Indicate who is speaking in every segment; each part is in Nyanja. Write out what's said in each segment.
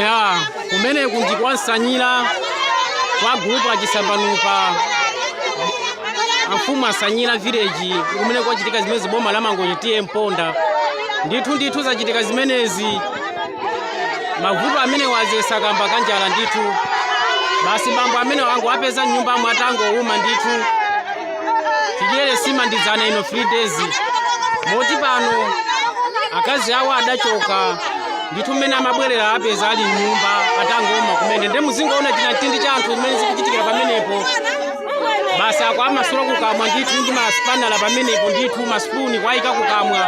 Speaker 1: ya kumene kunji kwa nsanyira kwa gulupu achisambanupa amfumu asanyira village kumene kwachitika zimenezi boma la mangochi TA mponda ndithu ndithu zachitika zimenezi mavuto amenewa azesa kamba kanjala ndithu basi bambo amenewa angowapeza mnyumbamu atangowuma ndithu chidyere sima ndi dzana ino 3 days moti pano akazi awo adachoka ndithu mmene amabwerera apeza ali mnyumba atangowuma kumene nde muzingoona chinamtindi cha anthu zimene zikuchitikira pamenepo basi akuwamasula kukamwa ndithu ndi masipanala pamenepo ndithu masipuni kuwayika kukamwa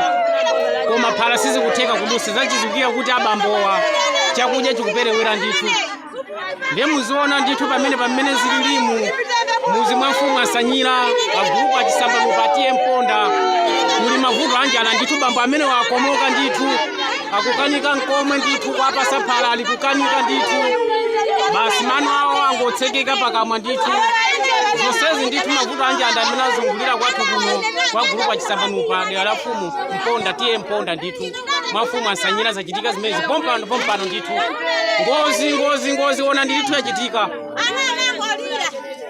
Speaker 1: koma phala sizikutheka kudusa zachidziwikire kuti abambowa chakudya chikuperewera ndithu ndiye muziona ndithu pamene pamene zililimu muzi mwa mfumu asanyira agulupu achisambanupa TA mponda kuli mavuto anjala ndithu bambo amenewa akomoka ndithu akukanika nkomwe ndithu kuwapasa phala ali kukanika ndithu basi mano awo angotsekeka pakamwa ndithu zonsezi ndithu mavuto anjala amene azungulira kwathu kuno kwa gulupu achisambanupa dera la mfumu mponda TA mponda ndithu mwa mfumu asanyira zachitika zimenezi pompano pompano ndithu ngozi ngozi ngozi ona ndithu yachitika Ana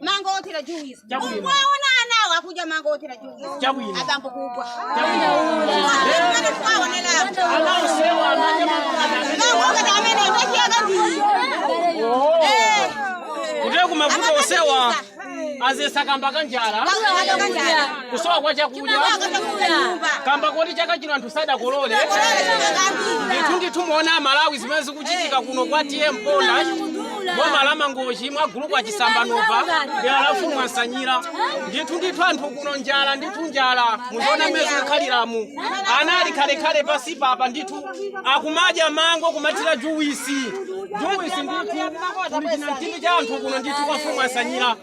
Speaker 2: mango othira juwisi mwaona anawo akudya mango othira juwisi Chabwino. abambo kugwa Amene twaonerapo. Ana osewa anadya mango ngati Mango ngati
Speaker 1: amene ndachiyaka ndii Oh. Kutereku mavuto osewa azesa kamba ka njala kusowa kwa chakudya kamba koti chaka chino anthu sadakolole ndithu ndithu muona amalawi zimene zikuchitika kuno kwa TA mponda boma la mangochi mwa gulupu achisambanupa dera la mfumu ansanyira ndithu ndithu anthu kuno njala ndithu njala muziona mmene zikukhaliramu ana ali khalekhale pansi papa ndithu akumadya mango kumathira juwisi juwisi ndithu kuli chinamtindi cha anthu kuno ndithu kwa mfumu ansanyira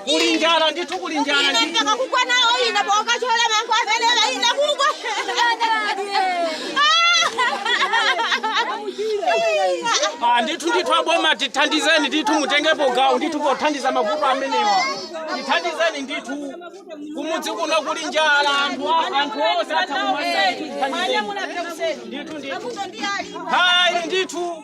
Speaker 1: kuli njala ndithu kuli njala ine mpaka kugwa nawo
Speaker 2: ine pokachola mango amenewa ine
Speaker 1: kugwa Ah, ndithu ndithu aboma tithandizeni ndithu mutengepo gawo ndithu pothandiza mavuto amenewa tithandizeni ndithu kumudzi kuno kuli njala anthu a- anthu onse atha kumwalira ndithu tithandizeni ndithu ndithu hayi ndithu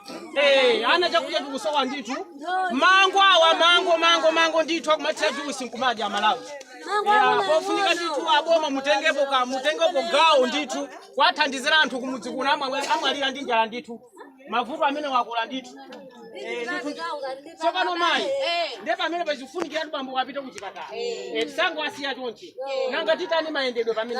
Speaker 1: Eh, ana chakudya chikusowa ndithu mango awa mango mango mango ndithu akumathira juisi nkumadya Amalawi Yeah, pofunika ndithu aboma mutengepo ka mutengepo gawo ndithu kwathandizira anthu kumudzi kuno amwa- amwalira ndi njala ndithu mavuto amenewa akula ndithu Eh, ndithu tsopano mayi ndiye pamene pakufunikira kuti bambowa apite kuchipatala Eh, tisangowasiya chonchi nanga titani mayendedwe pamene